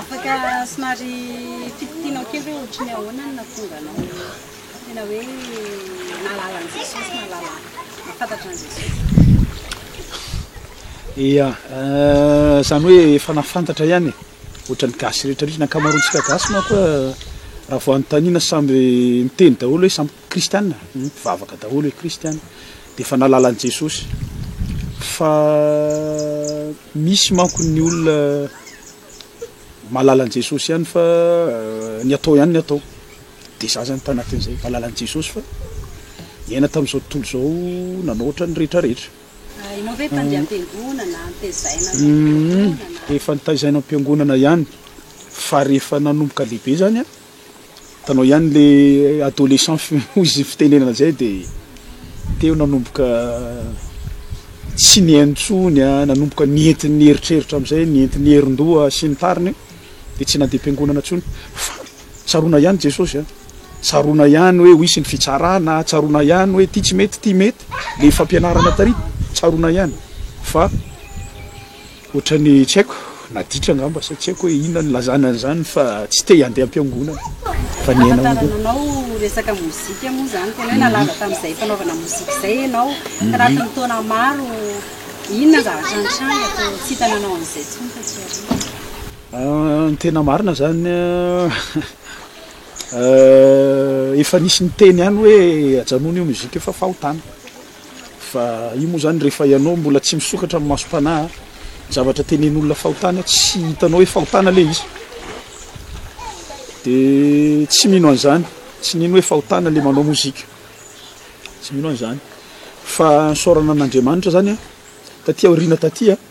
Afaka somary fititinao kely hoe ohatran'ny ahoana no nahatonga anao tena hoe nahalala an'i Jesosy, nahalala, nahafantatra an'i Jesosy? Ia, izany hoe efa nahafantatra ihany e, ohatran'ny gasy rehetra mihitsy, ny ankamaroantsika gasy manko raha vao anontaniana samby miteny daholo hoe samby Kristiana mpivavaka daholo hoe Kristiana dia efa nahalala an'i Jesosy fa misy manko ny olona mahalala an'i Jesosy ihany fa ny atao ihany ny atao dia izaho izany tanatin'izay mahalala an'i Jesosy fa niaina tamin'izao tontolo izao nanao ohatran'ny rehetra rehetra. Ianao ve mpandeha am-piangonana, notezaina avy any am-piangonana? Efa notaizaina am-piangonana ihany fa rehefa nanomboka lehibe izany an, Hitanao ihany le adolescent finoa izay fitenenana izay de teo nanomboka tsy nihaino intsony an, nanomboka nienty ny eritreritra amin'izay, nienty ny herin-doha sy ny tariny de tsy nandeha am-piangonana intsony fa tsaroana ihany Jesosy an, tsaroana ihany hoe ho hisy ny fitsarana, tsaroana ihany hoe ity tsy mety ity mety, le fampianarana tary tsaroana ihany fa. Ohatrany tsy haiko, naditra angamba sa tsy haiko hoe inona no ilazana an'izany fa tsy te handeha am-piangonana fa ny aina hono. Ahafantaranao resaka mozika moa izany tena hoe nalaza tamin'izay fanaovana mozika izay ianao tanatin'ny taona maro, inona zavatra nitranga ka tsy hita nanao an'izay intsony taty aoriana? Ny tena marina izany efa nisy niteny ihany hoe ajanony io mozika io fa fahotana. Fa io moa zany rehefa ianao mbola tsy misokatra amin'ny masom-panahy, ny zavatra tenenin'olona fahotana tsy hitanao hoe fahotana ilay izy. Dia tsy mino an'izany, tsy mino hoe fahotana ilay manao mozika, tsy mino an'izany. Fa nisaorana an'Andriamanitra zany aho taty aoriana taty a.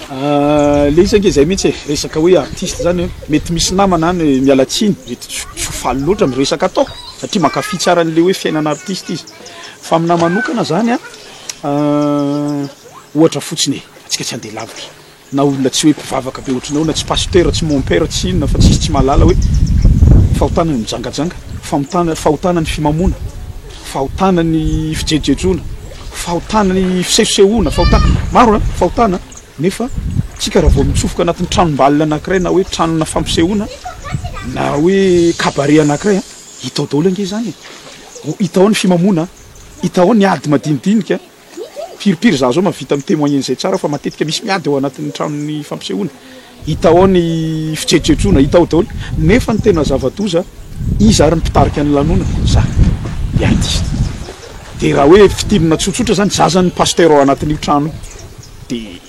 Le izy ange zay mintsy e, resaka hoe artiste zany an, mety misy namana any miala tsiny, mety tsy ho faly loatra ny resaka ataoko satria mankafy tsara anle hoe fiainana artiste izy, fa aminahy manokana zany an, ohatra fotsiny e, atsika tsy handeha lavitra, na olona tsy hoe mpivavaka be ohatranao na tsy pasteur tsy mon père tsy inona fa tsisy tsy mahalala hoe fahotana ny mijangajanga, famontana- fahotana ny fimamoana. fahotana ny fijejojejoana, fahotana ny fisehosehoana, fahotana, maro an, fahotana nefa tsika raha vao mitsofoka anatin'ny tranombalona anakiray na hoe tranona fampisehoana na hoe cabaret anakiray an, hita ao daholo ange izany e, hita ao ny fimamoana an, hita ao ny ady madinidinika an. Firipiry za zao mahavita mi temoigner an'izay tsara fa matetika misy miady ao anatin'ny tranon'ny fampisehoana, hita ao ny fitretrotroana, hita ao daholo, nefa ny tena zava-doza iza ary ny mpitarika ny lanonana? Za, ny artiste. Dia raha hoe fitinina tsotsotra zany, za zany ny pasteur ao anatin'io trano io, dia.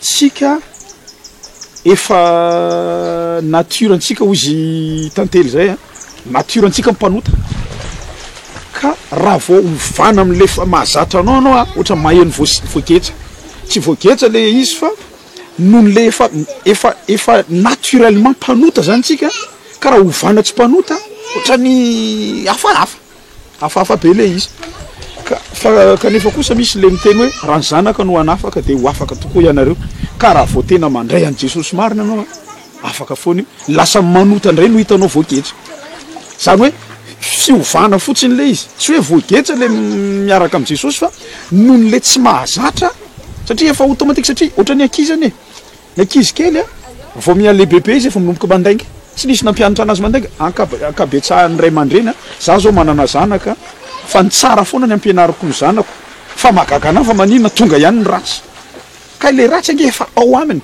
tsika efa nature ntsika hoy izy tantely zay a nature ntsika mpanota ka raha vao ovana amle efa mahazatra anao anao a ohatra maheno voagetsa tsy voagetsa le izy fa noho le efa efa efa naturellement mpanota zany tsika ka raha ovana tsy mpanota ohatrany hafahafa Hafahafa be ilay izy. Ka, fa, kanefa kosa misy ilay miteny hoe, raha ny Zanaka no hanafaka dia ho afaka tokoa ianareo. Ka raha vao tena mandray an'i Jesosy marina ianao an, afaka foana io. Lasa manota indray no hitanao voageja. Izany hoe, fiovana fotsiny ilay izy. Tsy hoe voageja ilay miaraka amin'i Jesosy fa noho ny ilay tsy mahazatra, satria efa automatique, satria ohatran'ny ankizy anie. Ny ankizy kely a, vao miha lehibe be izy efa manomboka mandainga. Tsy nisy nampianatra anazy mandainga, ankab- ankabetsahan'ny ray aman-dreny a. Za zao manana zanaka fa ny tsara foana ny ampianariko ny zanako fa mahagaga anahy fa maninona tonga ihany ny ratsy. Kay le ratsy ange efa ao aminy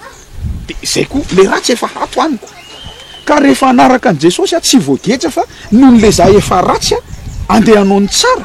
de zay koa le ratsy efa ato amiko. Ka rehefa hanaraka an'i Jesosy aho tsy voageja fa noho le za efa ratsy a, andeha hanao ny tsara.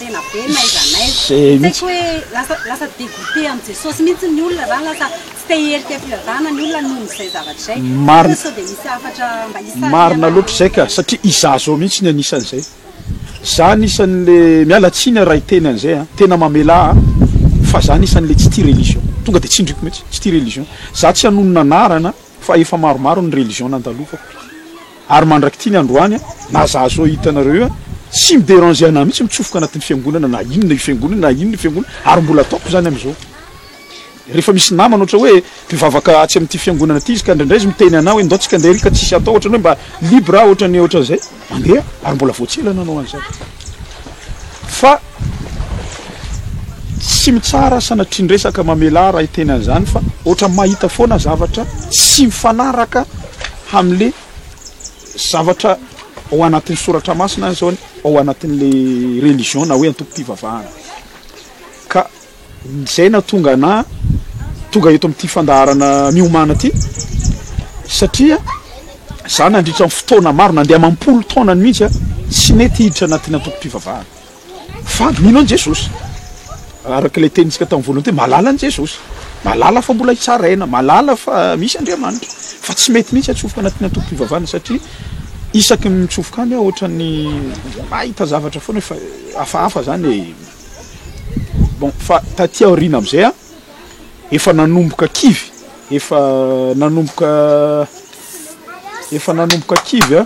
tena be n'aiza n'aiza tsy haiko hoe lasa lasa dégoûté amin'i Jesosy mihitsy ny olona zany lasa tsy te hiherika fivavahana ny olona noho izay zavatra izay marina sao dia misy hafatra mba hisarihana marina loatra izay ka satria izaho izao mihitsy ny anisan'izay izaho anisan'le miala tsiny raha hiteny an'izay a tena mamelà ahy fa izaho anisan'le tsy tia religion tonga dia tsindriko mihitsy tsy tia religion izaho tsy hanonona anarana Fa efa maromaro ny religion nandalofako ary mandrak'ity ny androany na za zao hitanareo io tsy mi deranger anah mihitsy mitsofoka anatin'ny fiangonana na inona io fiangonana na inona io fiangonana ary mbola ataoko zany amizao rehefa misy namana ohatra hoe mpivavaka atsy amin'ity fiangonana ity izy ka ndraindray izy miteny anah hoe ndao tsika ndeha ary ka tsisy atao ohatrany hoe mba libre ah ohatrany ohatran'izay. mandeha ary mbola vao tsy ela nanao an'izay fa tsy mitsara sanatrian-dresaka mamelà raha hiteny an'izany fa ohatra mahita foana zavatra tsy mifanaraka hamle zavatra ao anatin'ny soratra masina ny zaony ao anatin'le religion na hoe antoko-pivavahana ka Izay nahatonga anà tonga eto amin'ity fandaharana miomàna ity, satria za nandritra ny fotoana maro, nandeha amam-polo taona any mihitsy aho, tsy nety hiditra anatin'ny antokom-pivavahana. Fa mino an'i Jesosy. Araka ilay tenintsika tamin'ny voalohany teo, mahalala an'i Jesosy. Mahalala fa mbola hitsaraina, mahalala fa misy Andriamanitra. Fa tsy mety mihitsy hatsofoka anatin'ny antokom-pivavahana, satria isaky ny mitsofoka any aho, ohatran'ny mahita zavatra foana hoe fa hafahafa izany e. Bon, fa taty aoriana amizay an, efa nanomboka kivy, efa nanomboka, efa nanomboka kivy an,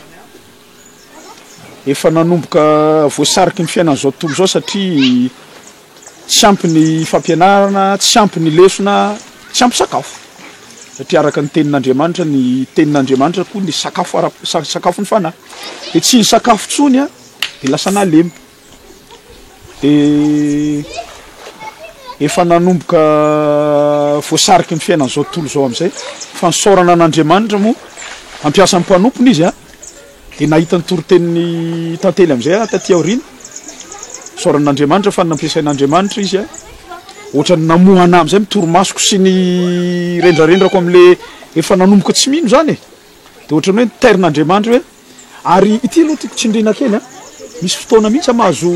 efa nanomboka voasariky ny fiainana zao tontolo zao satria tsy ampy ny fampianarana, tsy ampy ny lesona, tsy ampy sakafo, satria araka ny tenin'Andriamanitra, ny tenin'Andriamanitra koa ny sakafo ara-, sakafo ny fanahy, de tsy nisakafo tsony an de lasa nalemy. Dia efa nanomboka voasariky ny fiainan'izao tontolo izao amin'izay fa nisaorana an'Andriamanitra moa hampiasa ny mpanompony izy a dia nahita ny toritenin'ny tantely amin'izay aho taty aoriana nisaorana an'Andriamanitra fa nampiasain'Andriamanitra izy a ohatran'ny namoha anah amin'izay ny torimasoko sy ny rendrarendrako amin'ilay efa nanomboka tsy mino izany e dia ohatran'ny hoe nitairina Andriamanitra hoe Ary ity aloha tiako tsindriana kely a, misy fotoana mihitsy aho mahazo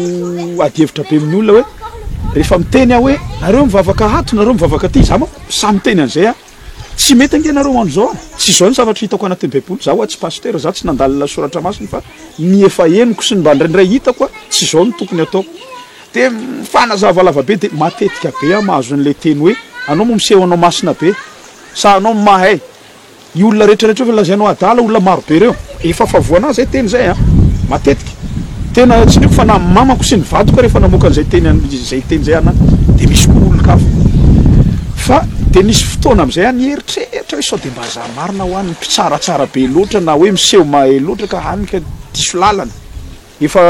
adihevitra be amin'ny olona hoe rehefa miteny aho hoe nareo mivavaka ato, nareo mivavaka aty, za manko samy miteny an'izay aho, tsy mety ange nareo andro zao an, tsy zao ny zavatra hitako anatin'ny baiboly, za hoa tsy pasitera, za tsy nandalina soratra masina fa ny efa henoko sy ny mba ndraindray hitako a, tsy zao no tokony ataoko. De mifanazava lava be, de matetika be aho mahazo an'le teny hoe anao moa miseho anao masina be, sa anao mahay. Io olona rehetra rehetra efa lazainao adala olona maro be reo efa fa voanà zay teny zay a! Matetika tena tsindriko fa na mamako sy ny vadiko ary efa namoaka an'izay teny an izay teny zay anà de misy koa olon-kafa fa de misy fotoana am'zay a mieritreritra hoe sao de mba zà marina hoa ny mpitsaratsara be loatra na hoe miseho mahay loatra ka hany ka diso làlana efa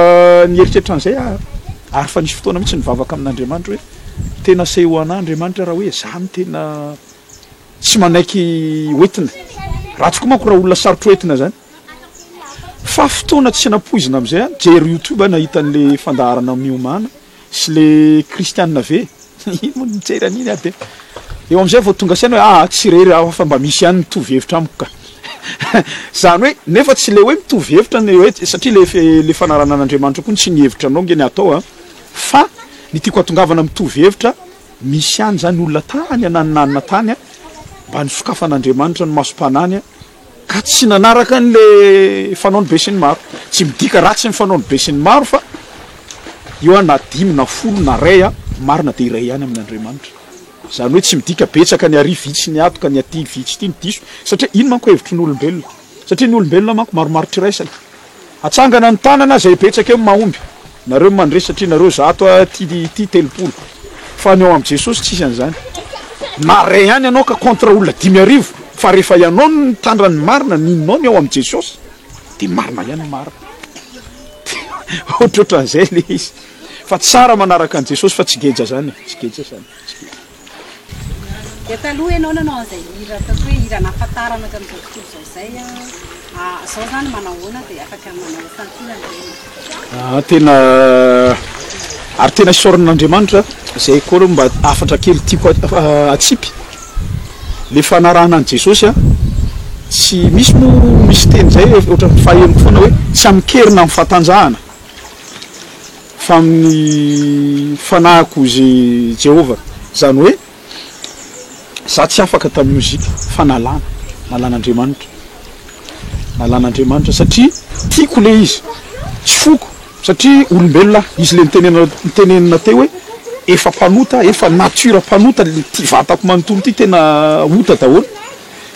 nieritreritra an'zay aho ary fa nisy fotoana mihitsy nivavaka amin'Andriamanitra hoe tena aseho anà Andriamanitra raha hoe zà no tena Tsy manaiky hoentina. Raha tokoa manko raha olona sarotra hoentina zany fa fotoana tsy nampoizina amizay an! Jery youtube an hahita anle fandaharana miomana sy le kristianina ve? Ino moa no mijery an'iny an! Dia eo amizay vao tonga saina hoe aa tsy irery aho fa mba misy ihany mitovy hevitra amiko ka! Zany hoe nefa tsy le hoe mitovy hevitra ny hoe satria le le fanarahanan'Andriamanitra koa ny tsy ny hevitranao nge ny atao an! Fa ny tiako hatongavana mitovy hevitra Misy ihany izany olona tany ananonanona tany mba nisokafan'Andriamanitra ny masom-panany ka tsy nanaraka an'ilay fanaon'ny besinimaro. Tsy midika ratsy ny fanaon'ny besinimaro fa eo aho na dimy na folo na iray aho marina dia iray ihany amin'Andriamanitra. Izany hoe tsy midika betsaka ny àry vitsy ny ato ka ny aty vitsy ity no diso satria iny manko hevitry ny olombelona satria ny olombelona manko maromaro trairasana. Atsangana ny tanana zay betsaka eo mahomby nareo mandresy satria nareo zato aty ity telopolo fa ny ao am Jesosy tsisy anzany na ray ihany ianao ka contre olona dimy arivo fa rehefa ianao no mitandra ny marina ny inonao ny ao am Jesosy de marina ihany ny marina ohatrohatranzay le izy fa tsara manaraka an Jesosy fa tsy geja zany e tsy geja zany tsy geja. Dia taloha ianao nanao an'izay hira ataoko hoe hira anahafantarana tamin'izao tontolo izao izay an, izao izany manao ahoana dia afaka manao santionany ve ianao? Aa tena ary tena isaorana an'Andriamanitra izay koa aloha mba hafatra kely tiako hatsipy le fanarahana an'i Jesosy an, tsy misy moa misy teny izay ohatran'ny fahenoko foana hoe tsy amin-kerina amin'ny fahatanjahana, fa amin'ny fanahiko izy Jehovah, izany hoe izaho tsy afaka tamin'ny mozika fa nalana, nalan'Andriamanitra, nalan'Andriamanitra satria tiako ilay izy, tsy foko satria olombelona aho, izy ilay nitenena nitenenina teo hoe efa mpanota, efa nature mpanota, ity vatako manontolo ity tena ota daholo.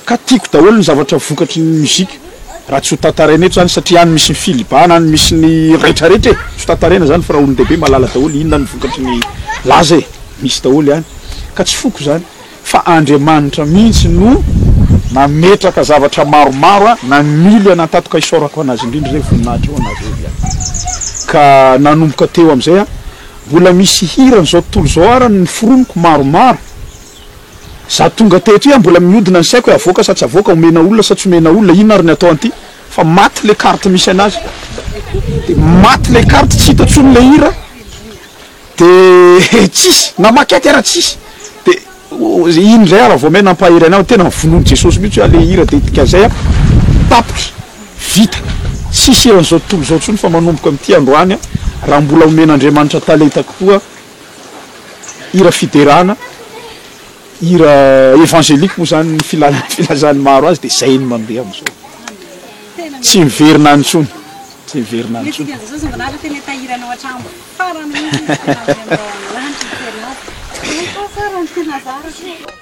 Ka tiako daholo ny zavatra vokatry ny mozika raha tsy ho tantaraina eto zany satria any misy ny filibana any misy ny retraretra e! tsy ho tantaraina zany fa raha olondehibe mahalala daholo inona ny vokatry ny laza e! misy daholo any ka tsy foko zany fa Andriamanitra mihitsy no nametraka zavatra maromaro a! namily an'Antato ka isaorako an'Azy indrindra zay voninahitra ho an'Azy hoy iany ka nanomboka teo am'zay a! mbola misy hiran'izao tontolo izao ara ny noforoniko maromaro Za tonga teto iha mbola miodina ny saiko hoe avoaka sa tsy avoaka, omena olona sa tsy omena olona, inona ary ny atao an'ity fa maty le carte misy anazy de maty le carte tsy hita tsony le hira de tsisy na maquette ara tsisy de iny zay ara vao may nampahery anay hoe tena vonoin'i Jesosy mihitsy oa le hira de dikan'izay aho tapitra vita tsisy hiran'izao tontolo izao tsony fa manomboka amin'ity androany aho raha mbola omen'Andriamanitra talenta kokoa hira fiderana, hira evangelique moa zany ny filazany filazany maro azy de zay no mandeha amizao. Tsy miverina any tsony, tsy miverina any tsony.